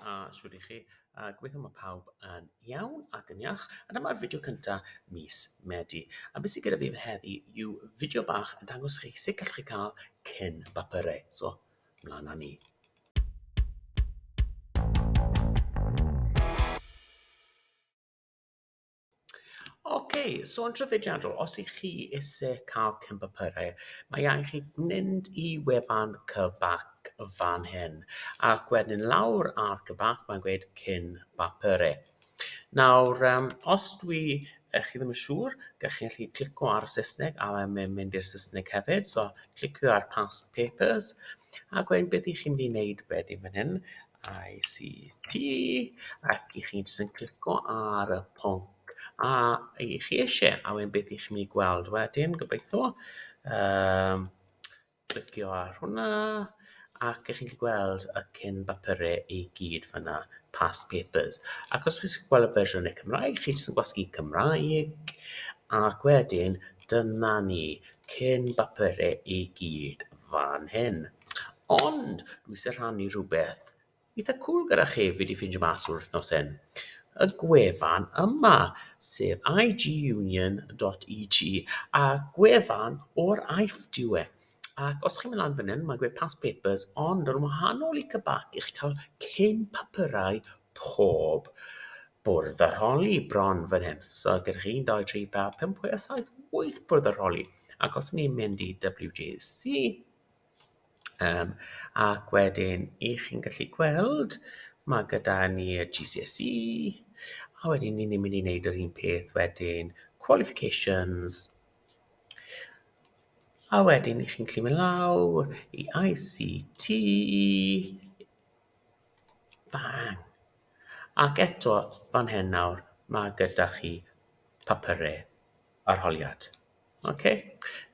A shwd i chi? A gobeithio mae pawb yn iawn ac yn iach. A dyma'r fideo cynta mis Medi. A beth sydd gyda fi heddi yw fideo bach yn dangos chi sut gallwch chi cael cyn bapurau. So, mlaen â ni. Ok, so yn traddodiadol, os ych chi eisiau cael cynpapyrau, mae angen chi mynd i wefan Cybac fan hyn, ac wedyn lawr ar Cybac, mae'n gweud cyn bapyrau. Nawr, um, os dwi uh, chi ddim yn siŵr, gallwch chi'n gallu clicio ar y Saesneg a mae'n mynd i'r Saesneg hefyd, so clicio ar past papers, ac wedyn beth ych chi'n mynd i wneud wedyn fan hyn, ICT ac i chi jyst yn clico ar y pwnc a i chi eisiau a wedyn beth i chi'n mynd i gweld wedyn gobeithio um, clicio ar hwnna ac ych chi'n gweld y cyn bapurau i gyd fyna past papers ac os chi'n gweld y fersiwn y Cymraeg chi jyst yn gwasgu Cymraeg ac wedyn dyna ni cyn bapurau i gyd fan hyn. Ond, dwi eisiau rhannu rhywbeth eitha cwl gyda chi fi wedi ffeindio mas o'r wythnos hyn. Y gwefan yma, sef igunion.et, a gwefan o'r AIF diw e. Ac os chi'n mynd lan fan hyn, mae'n gweud past papers, ond yn wahanol i cybac, i chi cael cyn papyrau pob bwrdd arholi bron fan hyn. So gyda chi 1, 2, 3, 4, 5, 6, 7, 8 bwrdd arholi. Ac os ni'n mynd i WGC, um, ac wedyn i chi'n gallu gweld, mae gyda ni y GCSE, a wedyn ni'n mynd i wneud yr un peth wedyn, qualifications, a wedyn i chi'n gallu mynd lawr i ICT, Bang! Ac eto fan hyn nawr, mae gyda chi papurau arholiad. Okay?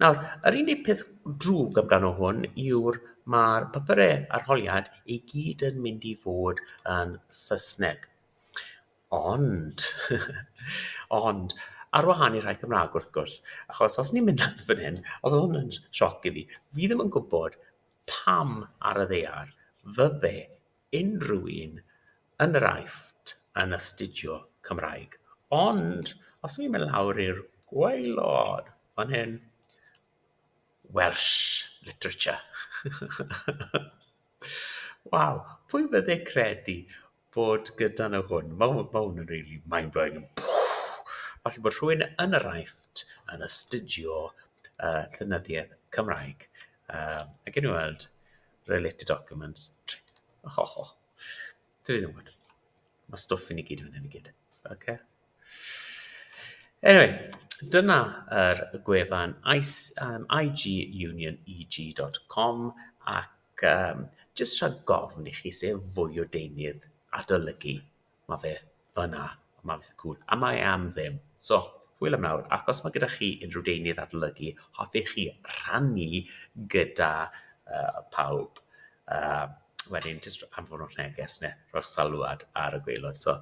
Nawr, yr unig peth drwg amdano hwn yw'r mae'r papurau arholiad i gyd yn mynd i fod yn Saesneg. Ond, ond, ar wahân i'r rhai Cymraeg wrth gwrs, achos os ni'n mynd lan fan hyn, oedd hwn yn sioc i fi, fi ddim yn gwybod pam ar y ddaear fydde unrhyw un yn yr Aifft yn astudio Cymraeg. Ond os ni'n mynd lawr i'r gwaelod fan hyn, Welsh literature. Waw, pwy fydde credu bod gyda nhw hwn. Mae hwn, mae hwn yn really mind-blowing. Falle bod rhywun yn yr aifft yn astudio uh, llynyddiaeth Cymraeg. Um, ac yn weld related documents. Oh, oh, oh. Dwi ddim yn gwybod. Mae stwff i ni gyd yn hyn i gyd. Okay. Anyway, dyna yr er gwefan um, igunion.eg.com ac Ac yym, jyst rhag gofn i chi sef fwy o deunydd adolygu, mae fe fanna, mae fe cwl, a mae e am ddim. So, hwyl am nawr, ac os mae gyda chi unrhyw deunydd adolygu hoffech chi rhannu gyda uh, pawb, uh, wedyn jyst anfonwch neges neu rhoi'ch salwad ar y gweilod. So,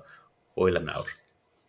hwyl am nawr.